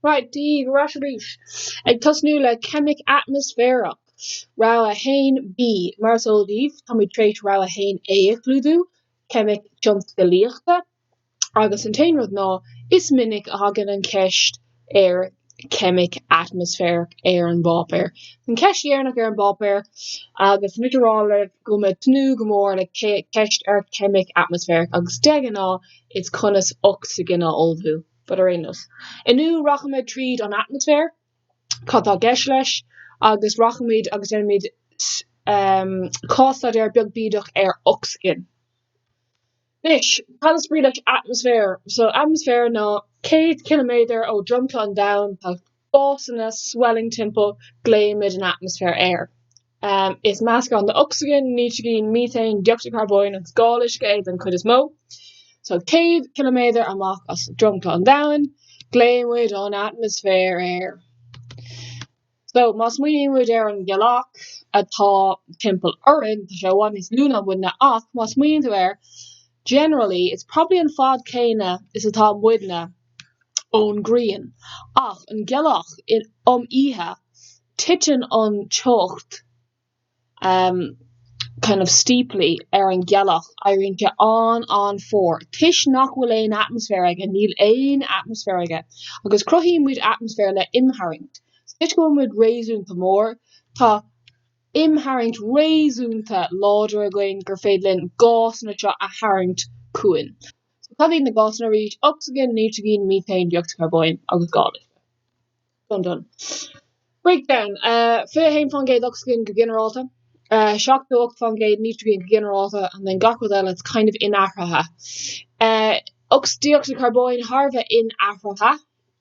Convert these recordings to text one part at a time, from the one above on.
Right, Dia daoibh ar ais arís. Ag tosnú le Ceimic Atmaisféarach, Rogha 1B. Mar is eol daoibh, táimid tar éis Rogha 1A a chlúdú, Ceimic Tionscalaíochta, agus an t-aon rud ná, is minic a thagann an cheist ar Cheimic Atmaisféarach ar an bpáipéar. An cheist dheireanach ar an bpáipéar, agus muid ag rá libh go mbeidh tnúth go mór le ceist ar Cheimic Atmaisféarach, agus de ghnáth, is conas ocsaigin a ullmhú. But ar aon nós. Inniu rachaimid tríd an atmaisféar, cad tá i gceist leis, agus rachaimid agus déanfaimid cás-staidéar beag bídeach ar ocsaigin. Anois, cad is brí leis atmaisféar? So, atmaisféar ná céad ciliméadar ó dhromchla an domhain, tá gásanna swelling timpeall glaoimid an atmaisféar air. Is meascán de ocsaigin, nítrigin, meatán, dé-ocsaíd charbóin agus gal uisce é don chuid is mó. Só 100 km amach as dromchla an Domhain glaoimid an atmaisféar air. Só má smaoiníonn muid ar an ghealach atá timpeall orainn tá sé i bhfad níos lú ná muidne ach má smaoiníonn tú air generally it's probably an fad céanna is atá muidne. ón ngrian ach an ghealach um oíche titeann an teocht um kind of steeply ar an ghealach éiríonn sé an-an-fhuar toisc nach bhfuil aon atmaisféar aige níl aon atmaisféar aige agus cruthaíonn muid atmaisféar le imtharraingt toisc go bhfuil muid réasúnta mór tá imtharraingt réasúnta láidir againn gur féidir linn gásanna seo a tharraingt chugainn. So cad iad na gásanna arís, ocsaigin, nítrigin, meatán, dé-ocsaíd charbóin agus gal uisce. Done. Breakdown, 21% ocsaigin go ginearálta, 78% nítrigin go ginearálta and then gach rud eile is kind of inathraithe. Ocs, dé-ocsaíd charbóin thar a bheith inathraithe.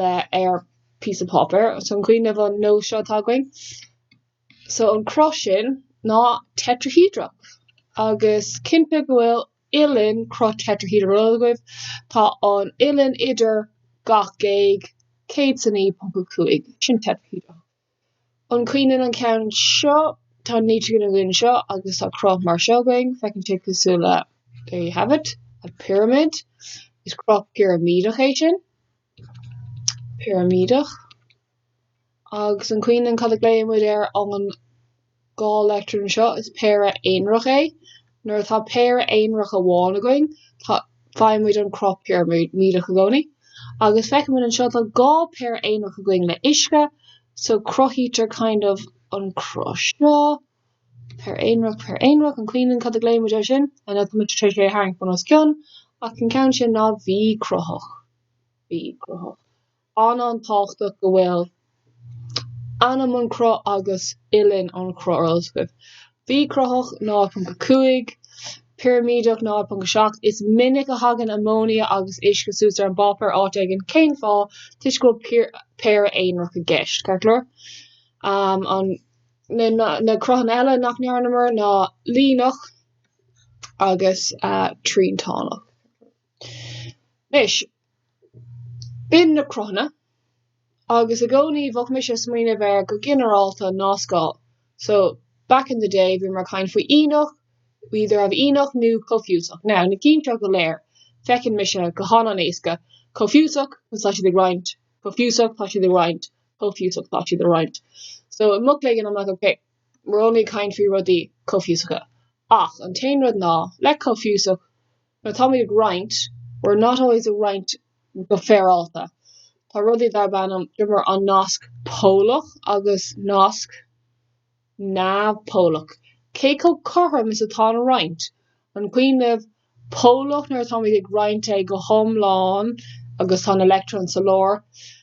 le ar píosa páipéir so an cuimhin libh an nós seo atá againn. So an cruth sin ná teitrihéadrach agus cinnte go bhfuil uillinn cruth tetrahedral agaibh tá an uillinn idir gach géag 109.5 sin teitrihéadrach. An cuimhin linn an ceann seo? Tá nítrigin againn anseo agus tá cruth mar seo againn, féachann sé cosúil le there you have it, a pyramid. Is cruth pirimídeach é sin, pirimídeach. Agus an cuimhin linn cad a ghlaonn muid ar an dhá leictreon anseo, is péire aonarach é. Nuair atá péire aonarach amháin againn, tá, faighimid an cruth pirimídeach i gcónaí. Agus feicimid anseo, tá dhá péire aonarach againn le uisce, so cruthaítear kind of an cruth seo, péire aonarach, péire aonarach, an cuimhin linn cad a ghlaoimid air sin? I know tá muid tar éis é a tharraingt bun os cionn, ach an ceann sin ná V-cruthach. V-cruthach. an-an-tábhachtach go bhfuil ainm an cruth agus uillinn an chruth ar eolas agaibh, V cruthach, 0.5, pirimídeach, 0.7. Is minic a thagann amóinia agus uisce suas ar an bpáipéar áit éigin. Cén fáth? Toisc go bhfuil péire aonarach i gceist. Ceart go leor, an. Na cruthanna eile nach ndearnamar ná líneach agus triantánach. Anois, b'in na cruthanna, agus i gcónaí bheadh mise ag smaoineamh air go ginearálta, nascáil. So, back in the day, bhíomar ag caint faoi ianach, we either have ianach nó comhfhiúsach. Now, na cinn seo go léir, feiceann mise go han-an-éasca, comhfhiúsach, cos tá siad ag roinnt, comhfhiúsach, tá siad ag roinnt, comhfhiúsach, tá siad ag roinnt. So, i mo chloigeann, I'm like, OK, we're only ag caint faoi rudaí comhfhiúsacha. Ach, an t-aon rud ná, le comhfhiúsach, Nuair atáimid ag roinnt, we're not always ag roinnt go féaráilte. Tá rudaí darb ainm, d'you remember an nasc polach agus nasc neamhpholach. Cé chomh cothrom is atá an roinnt? An cuimhin, neamhpholach nuair atáimid ag roinnt é go hiomlán agus tá an leictreon sa lár,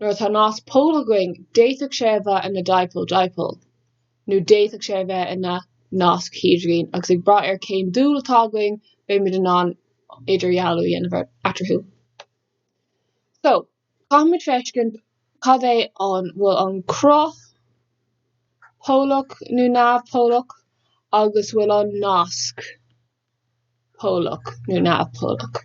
Nuair atá nasc polach againn, d'fhéadfadh sé a bheith ina dipole-dipole, nó d'fhéadfadh sé a bheith ina nasc hidrigine, agus ag brath ar cén dúil atá againn, beimid in ann idirdhealú a dhéanamh eatarthu. So, caithfimid feiscint cad é an bhfuil an cruth polach nó neamh-polach, agus bhfuil an nasc. polach nó neamh-polach.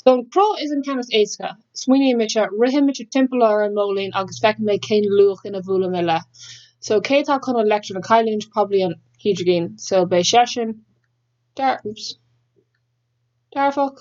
So an cruth is an ceann is éasca, smaoiníonn mise, ritheann mise timpeall ar an móilín agus feicim mé cén luachanna a bhuaileann mé le. So cé atá chun an leictreon a chailliúint, probably an hidrigin, so beidh seisean dearfach.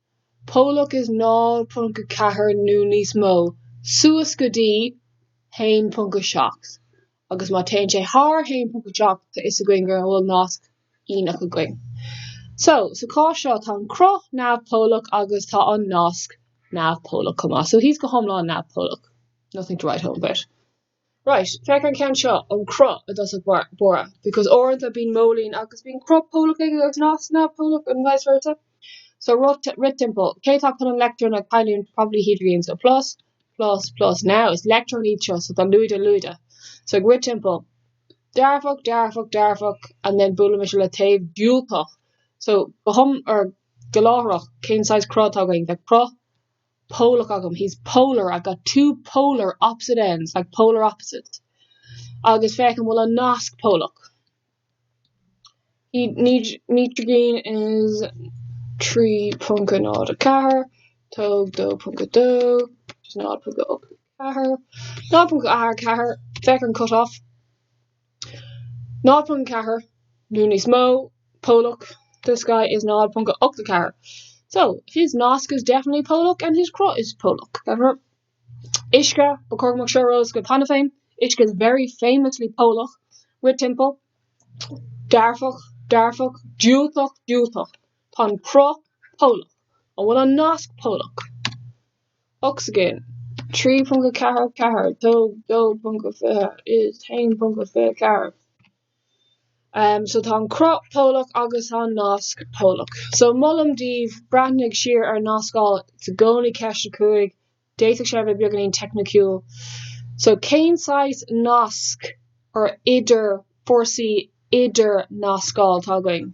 polach is 0.4 nó níos mó suas go dtí 1.7, agus má téann sé thar 1.7 tá 'fhios againn go bhfuil nasc ianach againn. So, sa chás seo tá an cruth neamh-pholach agus tá an nasc neamh-pholach chomh maith. So, he's go hiomlán neamh-pholach. Nothing to write home about. Right, féach ar an gceann seo ón cruth i dtosach báire, because uaireanta bíonn móilín agus bíonn cruth polach aige agus nasc neamhpholach and vice versa. So rith timpeall, cé atá chun an leictreon a chailliúint, probably hidrigin, so plus, plus, plus, now is leictreon iad seo, so tá lúide, lúide, so ag rith timpeall, dearfach, dearfach, dearfach, and then buailimid le taobh diúltach, so go hiomlán, or go láithreach, cén saghas cruth atá againn, bheadh, polach agam, he's polar, I've got two polar opposite ends, like polar opposites. Agus féach an bhfuil an nasc polach. Nítrigin is 3.04, tóg 2.2, just 0.84, 0.84, féach ar an cut off. 0.4 nó níos mó polach, this guy is 0.84 so his nasc is definitely polach and his cruth is polach, therefore uisce ba chóir go mbeadh seo ar eolas go paiteanta féin uisce is very famously polach, rith timpeall, dearfach, dearfach, diúltach, diúltach Tá an cruth polach An bhfuil an nasc polach? ocsaigin, 3.44 tóg 2.20 is 1.24 em so tá an cruth polach agus tá an nasc polach so molaim daoibh breathnú siar ar nascáil, tá sé i gcónaí ceist 5 d'fhéadfadh sé a bheith beagáinín teicniciúil so cén saghas nasc or idir fórsaí idir nascáil atá againn.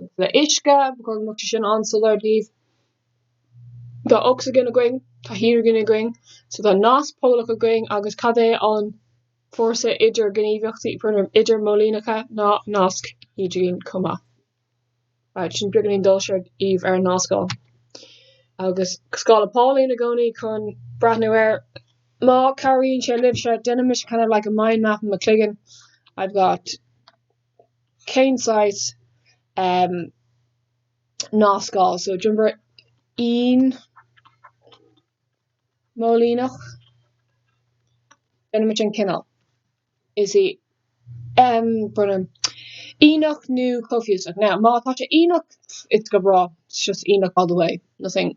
agus le uisce, ba chóir go mbeadh sé sin an-soiléir daoibh, tá ocsaigin againn, tá hidrigin againn, so tá nasc polach againn agus cad é an fórsa idirghníomhaíochta, idirmhóilíneacha ná nasc hidrigine chomh maith. Right, sin beagáinín dul siar daoibh ar an nascáil. Agus scála Pauling i gcónaí chun breathnú air. Má chabhraíonn sé libhse, déanaimse kind of like a mind map in mo chloigeann. I've got. cén saghas ehm nascáil so d'iompar inmhóilíneach déanaimid an cineál is í ehm ianach nó comhfhiúsach. Now má tá sé ianach it's go breá it's just ianach all the way nothing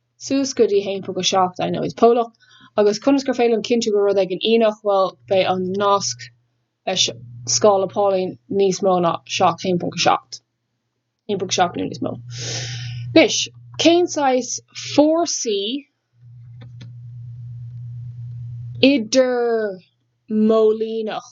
suas go dtí 1.7 I know it's polach, agus conas gur féidir liom cinntiú go bhfuil rud éigin ianach, bhuel, beidh an nasc leis scála Pauling níos mó ná 7, 1.7. 1.7 nó níos mó. Anois, cén saghas fórsaí idirmhóilíneach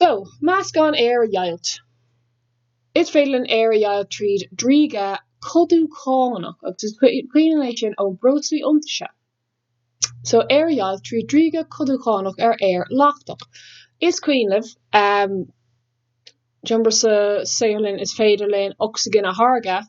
So, meascán aer a dheighilt, is féidir linn aer a dheighilt tríd driogadh codúchánach agus is cuimhin libh é sin ó breoslaí iontaise. So, aer a dheighilt tríd driogadh codúchánach ar aer leachtach. Is cuimhin libh, um, remember sa saotharlann is féidir linn ocsaigin a tháirgeadh,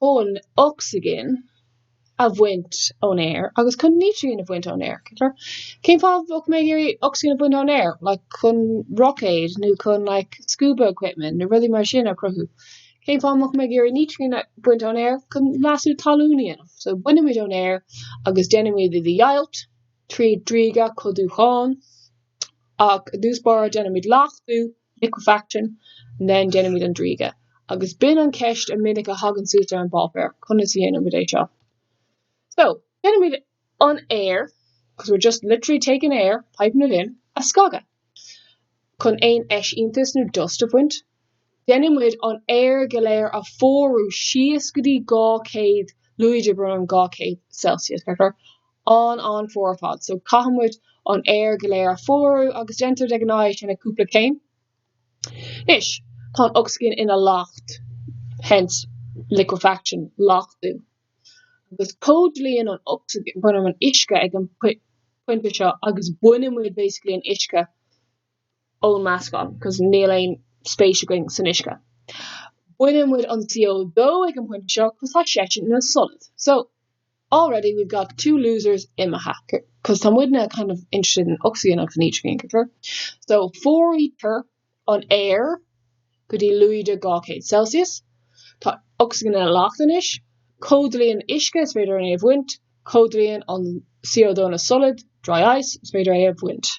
chun ocsaigin a bhaint ón aer agus chun nítrigin a bhaint ón aer, cén fáth a bheadh mé ag iarraidh ocsaigin a bhaint ón aer, like chun roicéad nó chun like scuba equipment nó rudaí mar sin a chruthú, cén fáth a mbeadh mé ag iarraidh nítrigin a bhaint ón aer, chun leasú talún a dhéanamh, so bainimid ón aer agus déanaimid é a dheighilt tríd driogadh codúchánach, i dtús báire déanaimid leachtú, liquefaction, and then déanaimid an driogadh. Agus b'in an cheist a minic a thagann suas ar an bpáipéar, conas a dhéanaimid é seo? So, déanaimid an aer, because we're just literally taking aer, piping it in, a scagadh. Chun aon eisíontas nó dust a bhaint. Déanaimid an aer go léir a fuarú síos go dtí 200 lúide, brón orm, 200 Celsius, ceart go leor? an- an-fhuar ar fad so caithfimid an aer go léir a fuarú agus déantar de ghnáth é sin i gcúpla céim anois tá an ocsaigin ina leacht hence liquefaction leachtú agus comhdhlúthaíonn an ocsaigin brón orm an uisce ag an pointe seo agus baineann muid basically an uisce ón meascán cos níl aon spéis againn san uisce. Baineann muid an CO2 ag an pointe seo cos tá seisean ina solad. So, already we've got two losers imithe cos tá muidne kind of interested in ocsaigin agus in nítrigin, ceart go leor. So, fuaraítear an aer go dtí lúide 200 celsius, tá ocsaigin ina leacht anois, comhdhlúthaíonn uisce, is féidir é a bhaint, comhdhlúthaíonn an CO2 ina solad, dry ice, is féidir é a bhaint.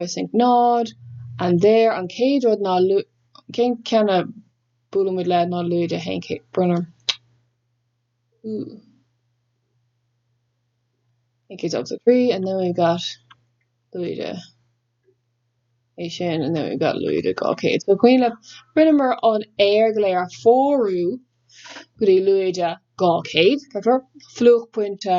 I think nod, and there an chéad rud ná cén ceann a buaileann muid le ná lúide a haon céad brón orm I think it's ochtó a trí and then we've got lúide é sin and then we've got lúide dhá chéad so cuimhin libh rinneamar an aer go léir a fhuarú go dtí lúide dhá chéad ceart go leor fliuchpointe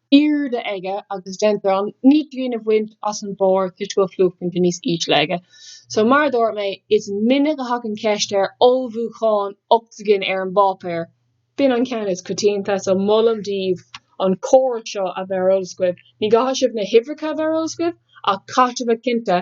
airde aige agus déantar an nítrigin a bhaint as an barr toisc go bhfuil fliuchpointe níos ísle aige. So, mar a dúirt mé, is minic a thagann ceist ar ullmhúchán ocsaigin ar an bpáipéar. B'in an ceann is coitianta, so molaim daoibh an córas seo a bheith ar eolas agaibh. Ní chaithfidh sibh na huimhreacha a bheith ar eolas agaibh ach caithfidh sibh a bheith cinnte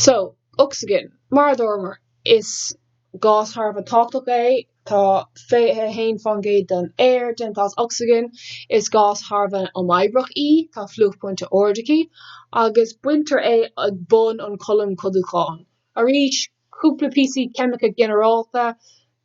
So, ocsaigin, mar a dúramar, is gás thar a bheith tábhachtach é. Tá 21% den aer déanta as ocsaigin. Is gás thar a bheith imoibríoch í, tá fliuchphointe ard aici, agus baintear é ag bun an cholúin codánúcháin. Arís, cúpla píosaí ceimice ginearálta,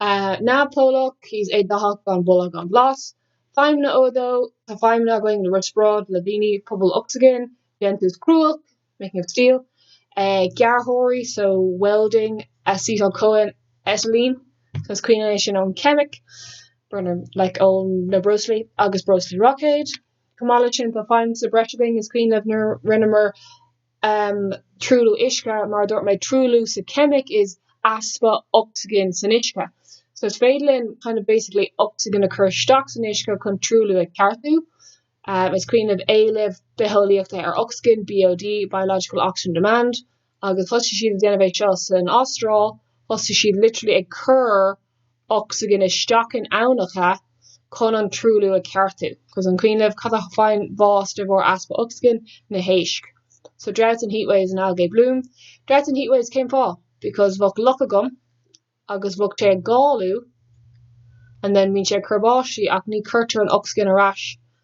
tá sé neamhpholach, is éadathach, gan boladh, gan bhlas. Feidhmeanna O2, Tá feidhmeanna againn le riospráid, le daoine, pubaill ocsaigine, déantús cruach, making of steel, gearrthóirí, so welding, acetyl CoA, acetylene, cos an cuimhin libh é sin ón ceimic, burner, like ó na breoslaí agus breoslaí roicéid. Chomh maith leis sin, tá feidhm sa breis againn is cuimhin libh nuair rinneamar am, truailliú uisce, mar a dúirt mé, truailliú sa cheimic is easpa ocsaigin san uisce. So is féidir linn kind of basically ocsaigin a chur isteach san uisce chun truailliú a cheartú. am, is cuimhin libh éileamh bitheolaíochta ar ocsaigin, BOD, biological oxygen demand, agus thosaigh siad ag déanamh é seo san Astráil, thosaigh siad literally ag cur ocsaigin isteach in aibhneacha chun an truailliú a cheartú. Cos an cuimhin libh, cad a faigheann bás de bharr easpa ocsaigin? Na héisc. So droughts and heatwaves and algae bloom. Droughts and heatwaves cén fáth? Because bheadh loch agam agus bheadh sé ag galú and then bíonn sé ag cur báistí ach ní chuirtear an ocsaigin ar ais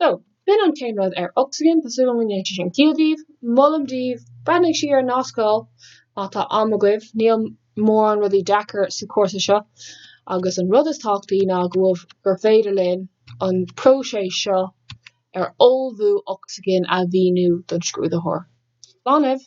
So, b'in an t-aon rud ar ocsaigin, tá súil agam go ndéanfaidh sé sin ciall daoibh. Molaim daoibh, breathnaigh siar ar na scáil má tá am agaibh, níl mórán rudaí deacair sa chúrsa seo agus an rud is tábhachtaí ná go bhfuil gur féidir linn an próiseas seo ar ullmhú ocsaigin a mhíniú don scrúdaitheoir. Slán libh!